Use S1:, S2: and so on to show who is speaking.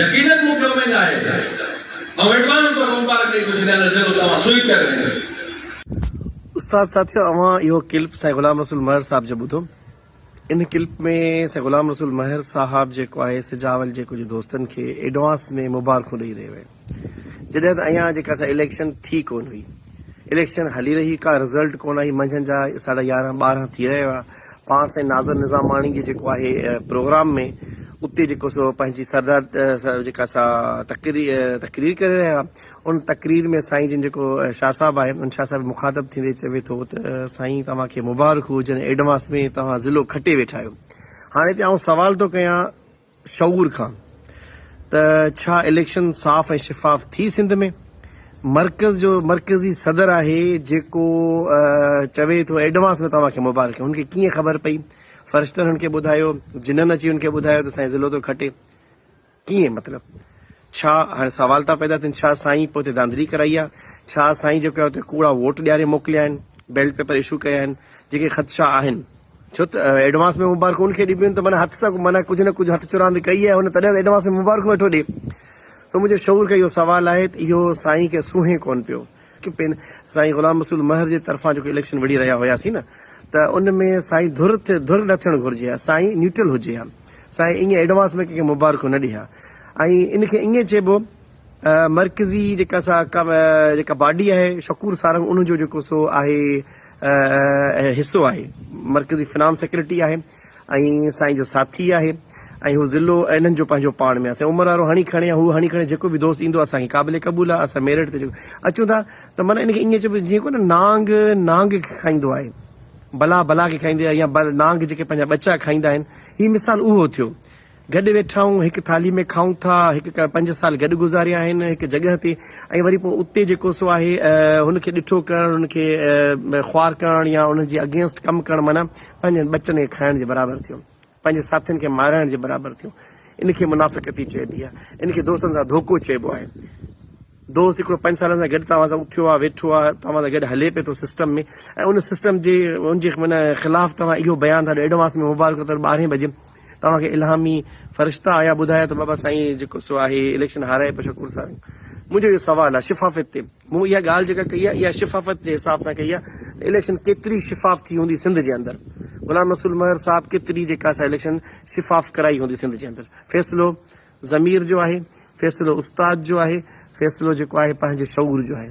S1: يقينن مون کي اميد آهي ته آئون ايڊوانس ۾
S2: توکي مبارڪ ڏئي ٿو ڇڏيان ته جيڪو تو مان سوئي پيا ڳائين. استاد ساٿيو اوهان اهو ڪلپ سائين غلام رسول مهر صاحب جو ٻڌو ان ڪلپ ۾ سائين غلام رسول مهر صاحب جيڪو آهي سجاول جي ڪجهه دوستن کي ايڊوانس ۾ مبارڪون ڏئي رهيو آهي جڏهن ته اڃان جيڪا سا اليڪشن ٿي ڪون هئي اليڪشن هلي رهي ڪا رزلٽ ڪون آهي منجهند جا ساڍا يارهن ٻارهن ٿي رهيا هئا پاڻ سائين ناظر نظاماڻي جي جيڪو آهي پروگرام ۾ اتي جيڪو سو پنهنجي سردار جيڪا سا تقرير تقرير ڪري رهيا ان تقرير ۾ سائين جن جيڪو شاهه صاحب آهي ان شاهه صاحب مخاطب ٿيندي چوي ٿو ته سائين توهان کي مبارڪ هجن ايڊوانس ۾ توهان ضلعو کٽي ويٺا آهيو هاڻي هتي آئون سوال ٿو ڪيان شعور کان ته ڇا اليڪشن صاف ۽ شفاف ٿي سنڌ ۾ مرڪز جو مرڪزي صدر آهي جيڪو چوي ٿو ايڊوانس ۾ توهان کي مبارڪيون هن کي ڪيئن خبر پئي فرشتن هن کي ٻڌايو جنن اچي هن کي ٻڌايو ته سائين ضلعو ٿو کٽي ڪيئن مطلب ڇا هاڻي سوال ٿا پيدا ٿين ڇا سائين پوئتي ڌانڌلي ڪرائي آ؟ ڇا سائين جيڪو آهي اتي ڪوڙا ووٽ ڏياري موڪليا آهن؟ بيلٽ پيپر اشو ڪيا آهن؟ جيڪي خدشا آهن. ڇو ته ايڊوانس ۾ مبارڪون ان کي ڏبيون آهن ته معنيٰ هٿ سان معنيٰ ڪجهه نه ڪجهه هٿ چراند ڪئي آهي هن تڏهن ته ايڊوانس ۾ مبارڪون ويٺو ڏي. سو منهنجو شعور کي اهو سوال آهي ته اهو سائين کي سونهين ڪونه پيو. پين سائين غلام رسول مهر جي طرفان جيڪو اليڪشن وڙهي رهيا هياسين نه ته ان ۾ سائين ڌر تي ڌر نه ٿيڻ گهرجي ها سائين نيوٽرل هجي ها سائين ايئن ايڊوانس ۾ ڪنهن کي مبارڪون نه ڏي ها ۽ ان کي ايئن چئبو مرڪزي جيڪا سا جيڪا باڊي آهي شڪور سارنگ ان جو جيڪو سو آهي حصو آهي مرڪزي فنانس سيڪريٽري آهي ۽ سائين جو ساٿي آهي ۽ هو ضلعو ۽ انهن جو پنهنجو پاڻ ۾ آهي سائين عمر وارو هڻي کڻي يا هو هڻي کڻي جيڪو به دوست ايندو اسان کي قابل قبول آهي اسان ميرٽ تي جيڪو اچون ٿا ته معنيٰ ان کي ائين چئبو جيئن ڪونه نانگ نانگ کي کائيندو آهي بلا بلا کي کائيندي آهي يا نانگ جيڪي پنهنجا ٻچا کائيندا آهن هي مثال اهو ٿيو گڏ ويٺا آهيون، هڪ ٿالهي ۾ کائون ٿا، هڪ ڪا پنج سال گڏ گذاريا آهن هڪ جڳهه تي ۽ وري پوء اتي جيڪو سو آهي هن کي ڏٺو ڪرڻ هن کي خوار ڪرڻ يا ان جي اگينسٽ ڪم ڪرڻ معنيٰ پنهنجن ٻچن کي کائڻ جي برابر ٿيو پنهنجي ساٿين کي مارائڻ جي برابر ٿيو ان کي منافقتي چئبي آهي ان کي دوستن سان ڌوڪو چئبو آهي. دوست هڪڙو پنج سالن سان گڏ توهان سان اٿيو آهي ويٺو آهي توهان سان گڏ هلي پئي ٿو سسٽم ۾ ۽ ان سسٽم جي ان جي خلاف توهان اهو بيان ٿا ڏيو ايڊوانس ۾ مبارڪ ته ٻارهين بجي توهان کي الهامي فرشتا آيا ٻڌايا ته بابا سائين جيڪو سو آهي اليڪشن هارائي پيو شڪور سائين منهنجو اهو سوال آهي شفافيت تي مون اها ڳالهه جيڪا ڪئي آهي اها شفافيت جي حساب سان ڪئي آهي ته اليڪشن ڪيتري شفاف ٿي هوندي سنڌ جي اندر غلام رسول مهر صاحب ڪيتري جيڪا سا اليڪشن شفاف ڪرائي هوندي سنڌ جي اندر فيصلو ضمير جو آهي، فيصلو استاد جو آهي، فيصلو جيڪو آهي پنهنجي شعور جو آهي.